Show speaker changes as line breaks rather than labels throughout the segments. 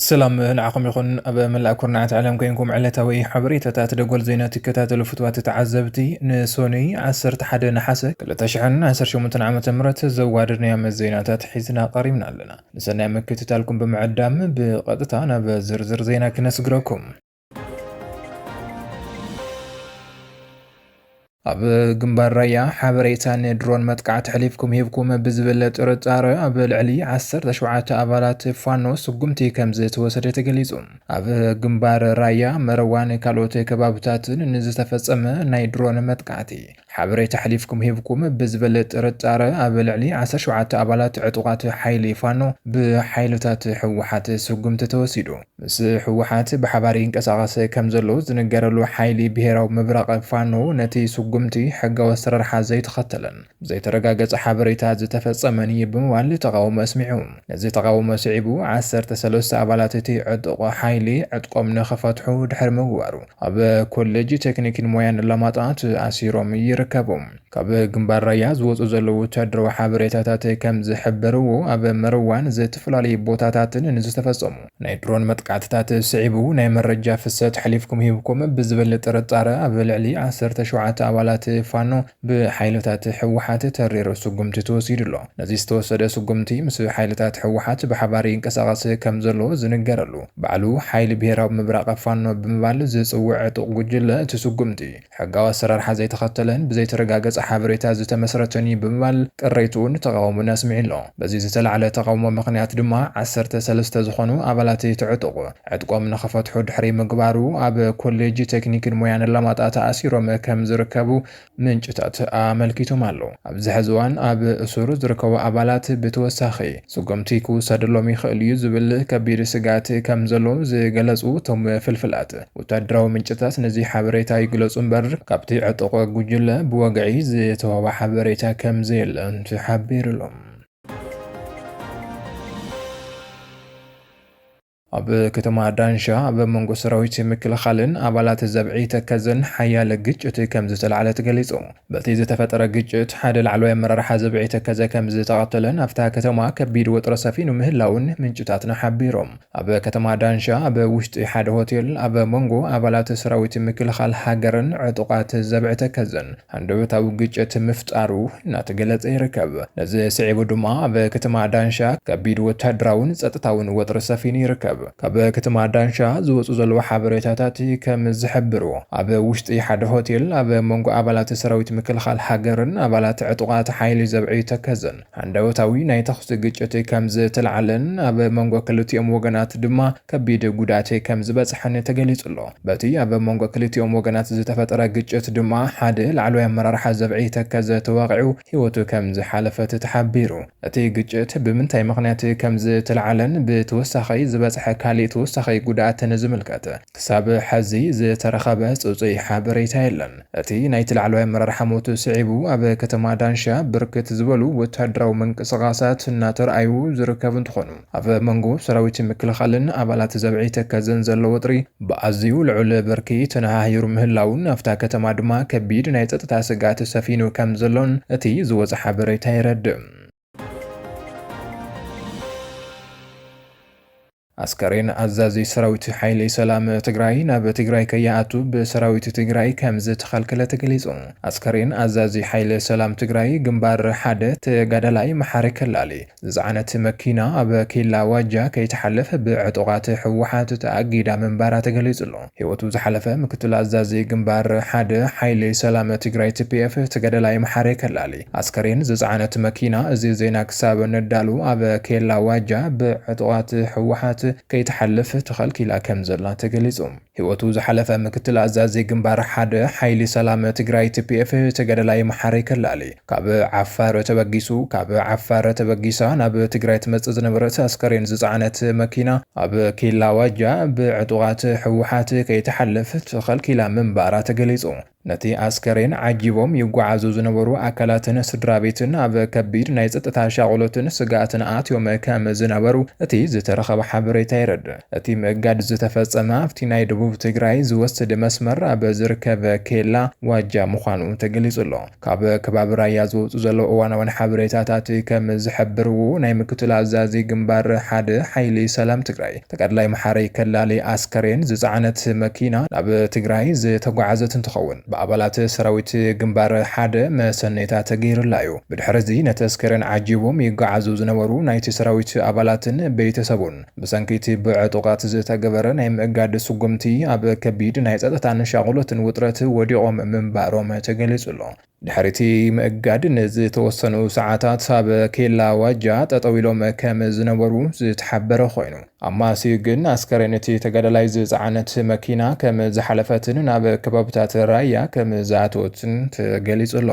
ሰላም ንዓኹም ይኹን ኣብ መላእ ኩርናዓት ዓለም ኮይንኩም ዕለታዊ ሓበሬታታት ደጎል ዜና ትከታተሉ ፍትዋት ተዓዘብቲ ንሶኑይ 11 ነሓሰ 2018 ዓ ም ዘዋደድናዮም ዜናታት ሒዝና ቀሪብና ኣለና ንሰናይ ምክትታልኩም ብምዕዳም ብቐጥታ ናብ ዝርዝር ዜና ክነስግረኩም። ኣብ ግንባር ራያ ሓበሬታ ንድሮን መጥቃዕቲ ሕሊፍኩም ሂብኩም ብዝብል ጥርጣረ ኣብ ልዕሊ 17 ኣባላት ፋኖ ስጉምቲ ከም ዝተወሰደ ተገሊጹ። ኣብ ግንባር ራያ መረዋን ካልኦት ከባብታትን ንዝተፈጸመ ናይ ድሮን መጥቃዕቲ ሓበሬታ ኣሕሊፍኩም ሂብኩም ብዝብል ጥርጣረ ኣብ ልዕሊ ዓሰርተ ሸውዓተ ኣባላት ዕጡቓት ሓይሊ ፋኖ ብሓይልታት ህወሓት ስጉምቲ ተወሲዱ። ምስ ህወሓት ብሓባር ይንቀሳቐስ ከም ዘሎ ዝንገረሉ ሓይሊ ብሄራዊ ምብራቕ ፋኖ ነቲ ስጉምቲ ሕጋዊ ኣሰራርሓ ዘይተኸተለን ብዘይተረጋገፀ ሓበሬታ ዝተፈፀመን እዩ ብምባል ተቓውሞ ኣስሚዑ። ነዚ ተቓውሞ ስዒቡ ዓሰርተ ሰለስተ ኣባላት እቲ ዕጡቕ ሓይሊ ዕጥቆም ንኽፈትሑ ድሕሪ ምግባሩ ኣብ ኮሌጅ ቴክኒክን ሞያን ኣላማጣ ተኣሲሮም ይርከቡ። ካብ ግንባር ራያ ዝወጹ ዘለዉ ወተሃደራዊ ሓበሬታታት ከም ዝሕብርዎ ኣብ መርዋን ዝተፈላለዩ ቦታታትን ንዝተፈጸሙ ናይ ድሮን መጥቃዕትታት ስዒቡ ናይ መረጃ ፍሰት ሓሊፍኩም ሂብኩም ብዝብል ጥርጣረ ኣብ ልዕሊ ዓሰርተ ሸውዓተ ኣባላት ፋኖ ብሓይልታት ህወሓት ተሪር ስጉምቲ ተወሲዱ ኣሎ። ነዚ ዝተወሰደ ስጉምቲ ምስ ሓይልታት ህወሓት ብሓባር ይንቀሳቐስ ከም ዘሎ ዝንገረሉ ባዕሉ ሓይሊ ብሄራዊ ምብራቕ ፋኖ ብምባል ዝፅውዕ ዕጡቕ ጉጅለ እቲ ስጉምቲ ሕጋዊ ኣሰራርሓ ዘይተኸተለን ብዘይተረጋገፀ ሓበሬታ ዝተመስረተን እዩ ብምባል ቅሬትኡን ተቓውሞን ኣስሚዑ ኣሎ። በዚ ዝተላዕለ ተቓውሞ ምኽንያት ድማ ዓሰርተ ሰለስተ ዝኾኑ ኣባላት እቲ ዕጡቕ ዕጥቆም ንኽፈትሑ ድሕሪ ምግባሩ፣ ኣብ ኮሌጅ ቴክኒክን ሞያን ኣላማጣ ተኣሲሮም ከም ዝርከቡ ምንጭታት ኣመልኪቶም ኣለው። ኣብዚ ሕዚ እዋን ኣብ እሱር ዝርከቡ ኣባላት ብተወሳኺ ስጉምቲ ክውሰደሎም ይኽእል እዩ ዝብል ከቢድ ስግኣት ከም ዘሎ ዝገለፁ እቶም ፍልፍላት ወታደራዊ ምንጭታት ነዚ ሓበሬታ ይግለፁ እምበር ካብቲ ዕጡቕ ጉጅለ ብወግዒ ዝተወሃበ ሓበሬታ ከም ዘየለ ተሓቢሩ'ሎ። ኣብ ከተማ ዳንሻ ኣብ መንጎ ሰራዊት ምክልኻልን ኣባላት ዘብዒ ተከዘን ሓያለ ግጭት ከምዝተላዕለ ተገሊጹ። በቲ ዝተፈጠረ ግጭት ሓደ ላዕለዋይ ኣመራርሓ ዘብዒ ተከዘ ከምዝተቐተለን ኣብታ ከተማ ከቢድ ወጥሪ ሰፊኑ ምህላውን ምንጭታትና ሓቢሮም። ኣብ ከተማ ዳንሻ ኣብ ውሽጢ ሓደ ሆቴል ኣብ መንጎ ኣባላት ሰራዊት ምክልኻል ሃገርን ዕጡቓት ዘብዒ ተከዘን ሃንደበታዊ ግጭት ምፍጣሩ እናተገለፀ ይርከብ። ነዚ ስዒቡ ድማ ኣብ ከተማ ዳንሻ ከቢድ ወታደራውን ፀጥታውን ወጥሪ ሰፊኑ ይርከብ። ካብ ከተማ ዳንሻ ዝወፁ ዘለዉ ሓበሬታታት ከም ዝሕብሩ ኣብ ውሽጢ ሓደ ሆቴል ኣብ መንጎ ኣባላት ሰራዊት ምክልኻል ሃገርን ኣባላት ዕጡቓት ሓይሊ ዘብዐዩ ተከዘን ሃንደበታዊ ናይ ተኹሲ ግጭት ከም ዝተላዕለን ኣብ መንጎ ክልቲኦም ወገናት ድማ ከቢድ ጉድኣት ከም ዝበጽሐን ተገሊጹ ኣሎ። በቲ ኣብ መንጎ ክልቲኦም ወገናት ዝተፈጠረ ግጭት ድማ ሓደ ላዕለዋይ ኣመራርሓ ዘብዒ ተከዘ ተወቒዑ ህይወቱ ከም ዝሓለፈት ተሓቢሩ። እቲ ግጭት ብምንታይ ምኽንያት ከም ዝተላዕለን ብተወሳኺ ዝበጽሐ ካሊእ ተወሳኺ ጉድኣትን ዝምልከት ክሳብ ሐዚ ዝተረኸበ ፅፁይ ሓበሬታ የለን። እቲ ናይቲ ላዕለዋይ ኣመራርሓ ሞት ስዒቡ ኣብ ከተማ ዳንሻ ብርክት ዝበሉ ወታደራዊ ምንቅስቓሳት እናተርኣዩ ዝርከቡ እንትኾኑ፣ ኣብ መንጎ ሰራዊት ምክልኻልን ኣባላት ዘብዒ ተከዘን ዘሎ ወጥሪ ብኣዝዩ ልዑል ብርኪ ተነሃሂሩ ምህላዉን ኣብታ ከተማ ድማ ከቢድ ናይ ፀጥታ ስግኣት ሰፊኑ ከምዘሎን እቲ ዝወፀ ሓበሬታ የረድእ። ኣስከሬን ኣዛዚ ሰራዊት ሓይሊ ሰላም ትግራይ ናብ ትግራይ ከይኣቱ ብሰራዊት ትግራይ ከምዝተኸልከለ ተገሊፁ። ኣስከሬን ኣዛዚ ሓይሊ ሰላም ትግራይ ግንባር ሓደ ተጋዳላይ መሓሪ ከላሊ ዝፀዓነት መኪና ኣብ ኬላ ዋጃ ከይተሓለፍ ብዕጡቓት ህወሓት ተኣጊዳ ምንባራ ተገሊፁ ኣሎ። ህይወቱ ዝሓለፈ ምክትል ኣዛዚ ግንባር ሓደ ሓይሊ ሰላም ትግራይ፣ TPF፣ ተጋዳላይ መሓሪ ከላሊ፣ ኣስከሬን ዝጸዓነት መኪና እዚ ዜና ክሳብ ነዳሉ ኣብ ኬላ ዋጃ ብዕጡቓት ህወሓት ከይትሓልፍ ተኸልኪላ ከምዘላ ተገሊጹ። ህይወቱ ዝሓለፈ ምክትል ኣዛዚ ግንባር ሓደ ሓይሊ ሰላም ትግራይ፣ TPF፣ ተጋዳላይ መሓሪ ከላሊ፣ ካብ ዓፋር ተበጊሱ ካብ ዓፋር ተበጊሳ ናብ ትግራይ ትመጽእ ዝነበረት ኣስከሬን ዝጸዓነት መኪና ኣብ ኬላ ዋጃ ብዕጡቓት ህወሓት ከይትሓልፍ ተኸልኪላ ምንባራ ተገሊጹ። ነቲ ኣስከሬን ዓጂቦም ይጓዓዙ ዝነበሩ ኣካላትን ስድራቤትን ኣብ ከቢድ ናይ ጸጥታ ሻቕሎትን ስግኣትን ኣትዮም ከም ዝነበሩ እቲ ዝተረኸበ ሓበሬታ የረድእ። እቲ ምእጋድ ዝተፈጸመ ኣብቲ ናይ ደቡብ ትግራይ ዝወስድ መስመር ኣብ ዝርከብ ኬላ ዋጃ ምዃኑ ተገሊጹ'ሎ። ካብ ከባቢ ራያ ዝወጹ ዘለዉ እዋናውያን ሓበሬታታት ከም ዝሕብርዎ፣ ናይ ምክትል ኣዛዚ ግንባር ሓደ ሓይሊ ሰላም ትግራይ፣ ተጋዳላይ መሓሪ ከላሊ ኣስከሬን ዝፀዓነት መኪና ናብ ትግራይ ዝተጓዓዘት እንትኸውን ብኣባላት ሰራዊት ግንባር ሓደ መሰነይታ ተገይርላ እዩ። ብድሕሪ እዚ ነቲ ኣስከሬን ዓጂቦም ይጓዓዙ ዝነበሩ ናይቲ ሰራዊት ኣባላትን ቤተሰቡን ብሰንኪ እቲ ብዕጡቓት ዝተገበረ ናይ ምእጋድ ስጉምቲ ኣብ ከቢድ ናይ ፀጥታን ሻቕሎትን ውጥረት ወዲቖም ምንባሮም ተገሊፁ ኣሎ። ድሕሪ'ቲ ምእጋድ ንዝተወሰኑ ሰዓታት ኣብ ኬላ ዋጃ ጠጠው ኢሎም ከም ዝነበሩ ዝተሓበረ ኮይኑ፣ ኣብ ማስዩ ግን ኣስከሬን እቲ ተጋዳላይ ዝጸዓነት መኪና ከም ዝሓለፈትን ናብ ከባብታት ራያ ከም ዝኣተወትን ተገሊጹ ኣሎ።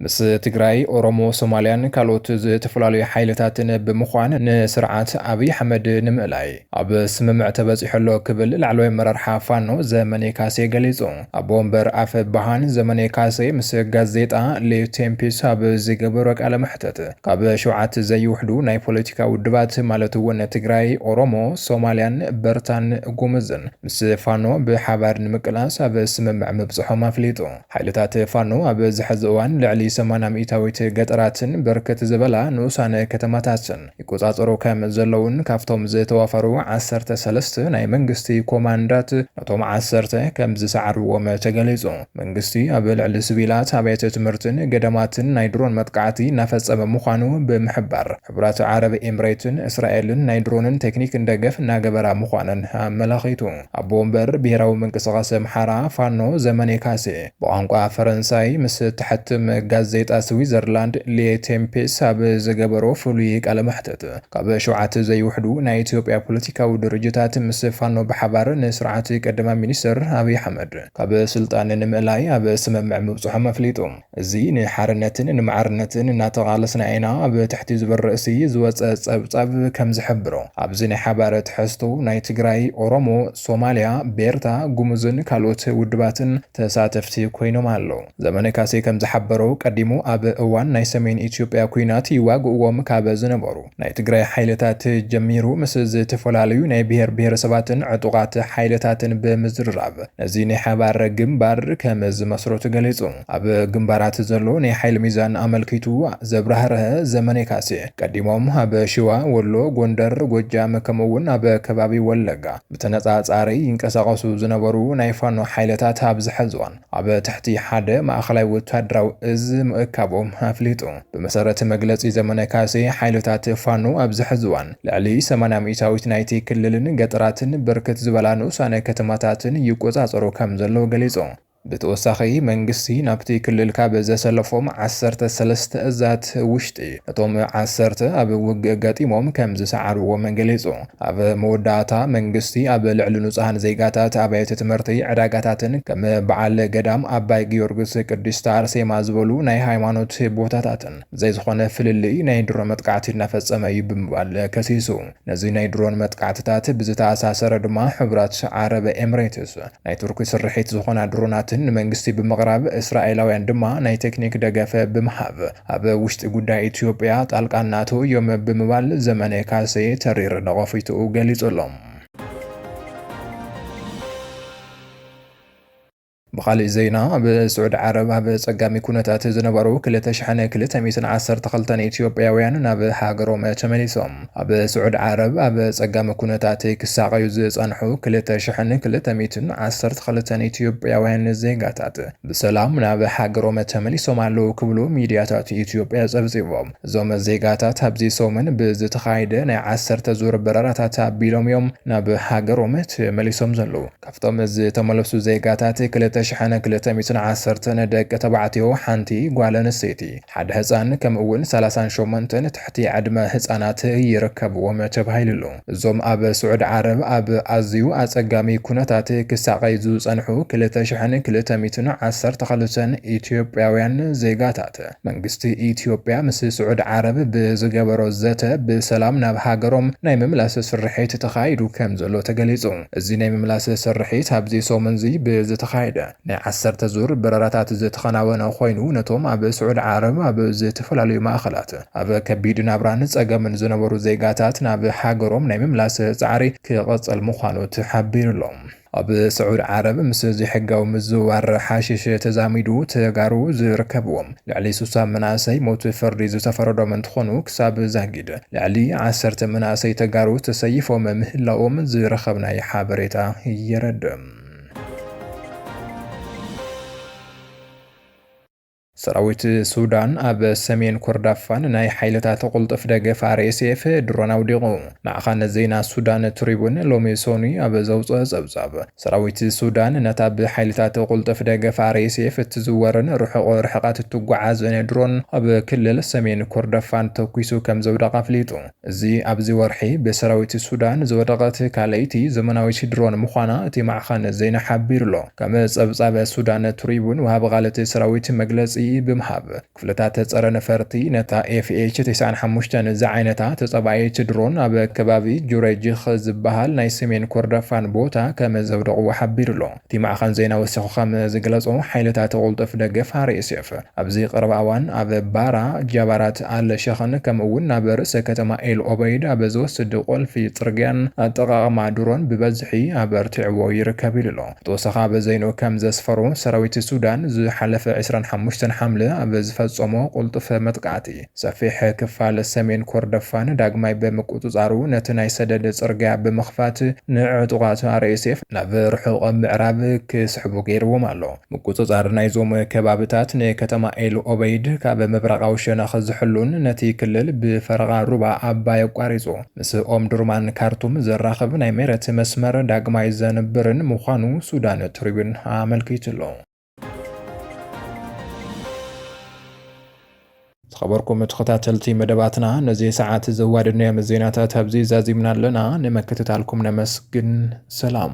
ምስ ትግራይ፣ ኦሮሞ፣ ሶማልያን ካልኦት ዝተፈላለዩ ሓይልታትን ብምዃን ንስርዓት ኣብይ ኣሕመድ ንምእላይ ኣብ ስምምዕ ተበፂሑ ኣሎ ክብል ላዕለዋይ ኣመራርሓ ፋኖ ዘመኔ ካሴ ገሊፁ። ኣቦ ወንበር ኣፈ ብሃን ዘመኔ ካሴ ምስ ጋዜጣ ሌ ቴምፒስ ኣብ ዝገበሮ ቃለ መሕተት ካብ ሸውዓት ዘይውሕዱ ናይ ፖለቲካ ውድባት ማለት እውን ትግራይ፣ ኦሮሞ፣ ሶማልያን በርታን ጉምዝን ምስ ፋኖ ብሓባር ንምቅላስ ኣብ ስምምዕ ምብፅሖም ኣፍሊጡ። ሓይልታት ፋኖ ኣብ ዝሐዚ እዋን ልዕሊ ሰማንያ ሚኢታዊት ገጠራትን ብርክት ዝበላ ንኡሳን ከተማታትን ይቆፃፀሩ ከም ዘለዉን ካብቶም ዝተዋፈሩ ዓሰርተ ሰለስተ ናይ መንግስቲ ኮማንዳት ነቶም ዓሰርተ ከም ዝሰዓርዎም ተገሊፁ። መንግስቲ ኣብ ልዕሊ ስቪላት ኣብያተ ትምህርትን ገዳማትን ናይ ድሮን መጥቃዕቲ እናፈፀመ ምዃኑ ብምሕባር፣ ሕቡራት ዓረብ ኤምሬትን እስራኤልን ናይ ድሮንን ቴክኒክን ደገፍ እናገበራ ምዃነን ኣመላኺቱ። ኣቦ ወንበር ብሄራዊ ምንቅስቓስ ኣምሓራ፣ ፋኖ፣ ዘመኔ ካሴ፣ ብቋንቋ ፈረንሳይ ምስ እትሓትም ጋዜጣ ስዊዘርላንድ ሌ ቴምፔስ ኣብ ዝገበሮ ፍሉይ ቃለ መሕትት፣ ካብ ሸውዓተ ዘይውሕዱ ናይ ኢትዮጵያ ፖለቲካዊ ድርጅታት ምስ ፋኖ ብሓባር ንስርዓት ቀዳማይ ሚኒስተር ኣብይ ኣሕመድ ካብ ስልጣን ንምእላይ ኣብ ስምምዕ ምብጽሖም ኣፍሊጡ። እዚ ንሓርነትን ንማዕርነትን እናተቓለስና ኢና ኣብ ትሕቲ ዝብል ርእሲ ዝወጸ ጸብጻብ ከም ዝሕብሮ፣ ኣብዚ ናይ ሓባር ትሕዝቶ ናይ ትግራይ፣ ኦሮሞ፣ ሶማልያ፣ ቤርታ፣ ጉሙዝን ካልኦት ውድባትን ተሳተፍቲ ኮይኖም ኣለው። ዘመነ ካሴ ከም ዝሓበሮ፣ ቀዲሙ ኣብ እዋን ናይ ሰሜን ኢትዮጵያ ኲናት ይዋግእዎም ካብ ዝነበሩ፣ ናይ ትግራይ ሓይልታት ጀሚሩ ምስ ዝተፈላለዩ ናይ ብሄር ብሄረሰባትን ዕጡቓት ሓይልታትን ብምዝርራብ ነዚ ናይ ሓባር ግምባር ከም ዝመስረቱ ገሊፁ። ኣብ ግምባራት ዘሎ ናይ ሓይሊ ሚዛን ኣመልኪቱ ዘብራህረሀ ዘመኔ ካሴ፣ ቀዲሞም ኣብ ሽዋ፣ ወሎ፣ ጎንደር፣ ጎጃም ከምኡ እውን ኣብ ከባቢ ወለጋ ብተነፃፃሪ ይንቀሳቐሱ ዝነበሩ ናይ ፋኖ ሓይልታት ኣብዚ ሕዚ እዋን ኣብ ትሕቲ ሓደ ማእኸላይ ወታደራዊ እዝ ምእካቦም ኣፍሊጡ። ብመሰረት መግለፂ ዘመነ ካሴ ሓይልታት ፋኖ ኣብዚ ሕዚ እዋን ልዕሊ ሰማንያ ሚኢታዊት ናይቲ ክልልን ገጠራትን ብርክት ዝበላ ንኡሳነ ከተማታትን ይቆፃፀሩ ከም ዘለዉ ገሊፁ። ብተወሳኺ መንግስቲ ናብቲ ክልል ካብ ዘሰለፎም ዓሰርተ ሰለስተ እዛት ውሽጢ እቶም ዓሰርተ ኣብ ውግእ ገጢሞም ከም ዝሰዓርዎም ገሊፁ። ኣብ መወዳእታ፣ መንግስቲ ኣብ ልዕሊ ንጹሃን ዜጋታት፣ ኣብያተ ትምህርቲ፣ ዕዳጋታትን ከም በዓል ገዳም ኣባይ ጊዮርግስ፣ ቅድስት ኣርሴማ ዝበሉ ናይ ሃይማኖት ቦታታትን ብዘይዝኾነ ፍልልይ ናይ ድሮን መጥቃዕቲ እናፈጸመ እዩ ብምባል ከሲሱ። ነዚ ናይ ድሮን መጥቃዕትታት ብዝተኣሳሰረ ድማ ሕቡራት ዓረብ ኤምሬትስ ናይ ቱርኪ ስርሒት ዝኾና ድሮናትን ንመንግስቲ ብምቕራብ፣ እስራኤላውያን ድማ ናይ ቴክኒክ ደገፍ ብምሃብ፣ ኣብ ውሽጢ ጉዳይ ኢትዮጵያ ጣልቃ እናኣተው እዮም ብምባል ዘመነ ካሴ ተሪር ነቐፊትኡ ገሊጹ ኣሎ። ብኻሊእ ዜና ኣብ ስዑድ ዓረብ ኣብ ጸጋሚ ኩነታት ዝነበሩ ክልተ ሽሕን ክልተ ሚእትን ዓሰርተ ክልተን ኢትዮጵያውያን ናብ ሃገሮም ተመሊሶም። ኣብ ስዑድ ዓረብ ኣብ ጸጋሚ ኩነታት ክሳቐዩ ዝጸንሑ ክልተ ሽሕን ክልተ ሚእትን ዓሰርተ ክልተን ኢትዮጵያውያን ዜጋታት ብሰላም ናብ ሃገሮም ተመሊሶም ኣለዉ ክብሉ ሚድያታት ኢትዮጵያ ፀብፂቦም። እዞም ዜጋታት ኣብዚ ሰሙን ብዝተኻየደ ናይ ዓሰርተ ዙር በረራታት ኣቢሎም እዮም ናብ ሃገሮም ተመሊሶም ዘለዉ። ካብቶም ዝተመለሱ ዜጋታት ክልተ ሽሕን ክልተ ሚእትን ዓሰርተን ደቂ ተባዕትዮ፣ ሓንቲ ጓል ኣንስተይቲ፣ ሓደ ህፃን ከምኡ እውን ሰላሳን ሸሞንተን ትሕቲ ዕድመ ህፃናት ይርከብዎም ተባሂሉ'ሎ። እዞም ኣብ ስዑዲ ዓረብ ኣብ ኣዝዩ ኣጸጋሚ ኩነታት ክሳቐዩ ዝጸንሑ ክልተ ሽሕን ክልተ ሚእትን ዓሰርተ ክልተን ኢትዮጵያውያን ዜጋታት፣ መንግስቲ ኢትዮጵያ ምስ ስዑዲ ዓረብ ብዝገበሮ ዘተ ብሰላም ናብ ሃገሮም ናይ ምምላስ ስርሒት ተኻይዱ ከምዘሎ ተገሊጹ። እዚ ናይ ምምላስ ስርሒት ኣብዚ ሰሙን'ዚ ብዝተኻየደ፣ ናይ ዓሰርተ ዙር በረራታት ዝተኸናወነ ኮይኑ፣ ነቶም ኣብ ስዑዲ ዓረብ ኣብ ዝተፈላለዩ ማእኸላት ኣብ ከቢድ ናብራን ፀገምን ዝነበሩ ዜጋታት ናብ ሃገሮም ናይ ምምላስ ፃዕሪ ክቕፅል ምዃኑ ተሓቢሩ'ሎ። ኣብ ስዑዲ ዓረብ ምስ ዘይሕጋዊ ምዝውዋር ሓሽሽ ተዛሚዱ ተጋሩ ዝርከብዎም ልዕሊ ስሳ መናእሰይ ሞት ፍርዲ ዝተፈረዶም እንትኾኑ፣ ክሳብ ዛጊድ ልዕሊ ዓሰርተ መናእሰይ ተጋሩ ተሰይፎም ምህላዎም ዝረኸብናይ ሓበሬታ የረድእ። ሰራዊት ሱዳን ኣብ ሰሜን ኮርዳፋን ናይ ሓይልታት ቁልጡፍ ደገፍ RSF ድሮን ኣውዲቑ። ማዕኸን ዜና ሱዳን ትሪቡን ሎሚ ሶኑይ ኣብ ዘውጽኦ ጸብጻብ፣ ሰራዊት ሱዳን ነታ ብሓይልታት ቁልጡፍ ደገፍ RSF እትዝወርን ርሑቕ ርሕቐት እትጓዓዝን ድሮን ኣብ ክልል ሰሜን ኮርደፋን ተኲሱ ከምዘውደቓ ኣፍሊጡ። እዚ ኣብዚ ወርሒ ብሰራዊት ሱዳን ዝወደቐት ካልኣይቲ ዘመናዊት ድሮን ምዃና እቲ ማዕኸን ዜና ሓቢሩ'ሎ። ከም ጸብጻብ ሱዳን ትሪቡን ወሃቢ ቃል እቲ ሰራዊት መግለጺ ብምሃብ፣ ክፍልታት ጸረ ነፈርቲ ነታ ኤፍኤች ተስዓን ሓሙሽተን ዝዓይነታ ተጻባኢት ድሮን ኣብ ከባቢ ጁረይጅኽ ዝበሃል ናይ ሰሜን ኮርዳፋን ቦታ ከም ዘውደቕዎ ሓቢሩ'ሎ። እቲ ማዕኸን ዜና ወሲኹ ከም ዝገለጾ፣ ሓይልታት ቕልጡፍ ደገፍ፣ RSF፣ ኣብዚ ቐረባ እዋን ኣብ ባራ፣ ጃባራት ኣል ሸኽን ከምኡ እውን ናብ ርእሰ ከተማ ኤል ኦበይድ ኣብ ዝወስድ ቑልፊ ጽርግያን ኣጠቓቕማ ድሮን ብበዝሒ ኣበርቲዕዎ ይርከብ ኢሉ ኣሎ። ብተወሳኺ ኣብ ዘይንኡ ከም ዘስፈሮ፣ ሰራዊት ሱዳን ዝሓለፈ ዕስራን ሓሙሽተን ሓምለ ኣብ ዝፈጸሞ ቕልጡፍ መጥቃዕቲ፣ ሰፊሕ ክፋል ሰሜን ኮርደፋን ዳግማይ ብምቁጽጻሩ፣ ነቲ ናይ ሰደድ ጽርግያ ብምኽፋት ንዕጡቓት RSF ናብ ርሑቕ ምዕራብ ክስሕቡ ገይርዎም ኣሎ። ምቁጽጻር ናይዞም ከባብታት ንከተማ ኤል ኦበይድ ካብ ምብራቓዊ ሸነኽ ዝሕሉን ነቲ ክልል ብፈረቓ ሩባ ኣባይ ኣቋሪጹ ምስ ኦምዱርማን ካርቱም ዘራኽብ ናይ መሬት መስመር ዳግማይ ዘንብርን ምዃኑ ሱዳን ትሪቡን ኣመልኪቱ'ሎ። ዝኸበርኩም ተኸታተልቲ መደባትና ነዚ ሰዓት ዘዋደድናዮም ዜናታት ኣብዚ ዛዚምና ኣለና። ንምክትታልኩም ነመስግን። ሰላም